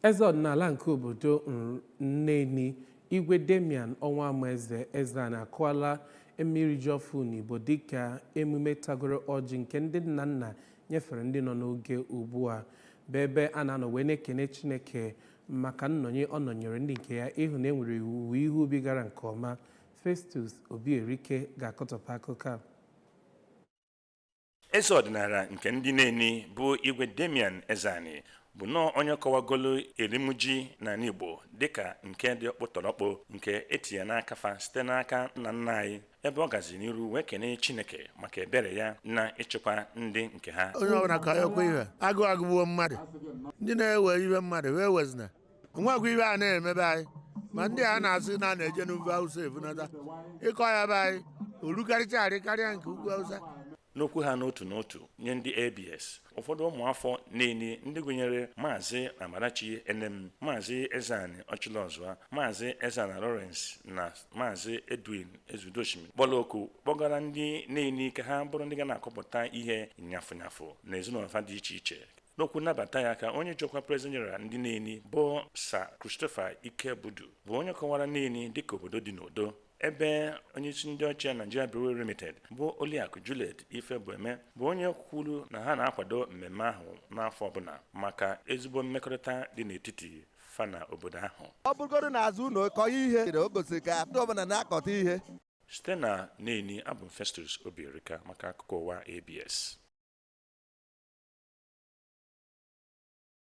Eze ọdịnala nke obodo Neni, Igwe Damian Ọnwụamaeze Ezeani akọwala emume iri ji ọfụ n'Igbo dịka emume tagoro ọjị nke ndị nna nna nyefere ndị nọ n'oge ugbu a bụ ebe a na-anọ wee na-ekene Chineke maka nnọnye ọ nọnyere ndị nke ya ịhụ na e nwere owuwe ihe ubi gara nke ọma. Festus Obierika ga-akọtọpụ akụkọ a. eze ọdịnala nke ndị neni bụ igwe damian ezeani bụ nnọọ onye kọwagolu erim ji n'ala igbo dịka nke dị ọkpụtọrọkpụ nke e tinye n'aka fa site n'aka nna nna anyị ebe ọ gazi n'iru wee kenee chineke maka ebere ya na ịchịkwa ndị nke ha onye ọbụla kọọkwa ihe agụụ agụgbuo mmadụ ndị na-ewe ihe mmadụ ewezina o nwekwa ihe a na-eme be anyị ma ndị a na-asị na a na-eje n'ugwu awụsa ebunata ị kọọ ya be anyị o lukarịchaarị karịa nke ugwu awụsa n'okwu ha n'otu n'otu nye ndị abs ụfọdụ ụmụafọ neni ndị gụnyere maazị amarachi enem maazị ezeani ọchịlọzụa maazị ezana lawrence na maazị edwin ezudoshimi kpọrọ oku kpọgara ndị neni ka ha bụrụ ndị ga na-akọpụta ihe nyafụnyafụ n'ezinụlọ fa dị iche iche n'okwu nnabata ya ka onye ji ọkwa President General ndị Neni bụ Sir Christopher Ikebudu bụ onye kọwara Neni dịka obodo dị n'udo ebe onyeisi ndị HR Nigeria Brewery Limited bụ Oliakụ Juliet Ifebueme bụ onye kwuru na ha na-akwado mmemme ahụ n'afọ ọbụla maka ezigbo mmekọrịta dị n'etiti fa na obodo ahụ ọ bụrụgodu n'azụ ụlọ kọọ ihe o gosiri ka ndị ọbụla na-akọta ihe Site na Neni, abụ m Festus Obierika maka akụkọ ụwa ABS.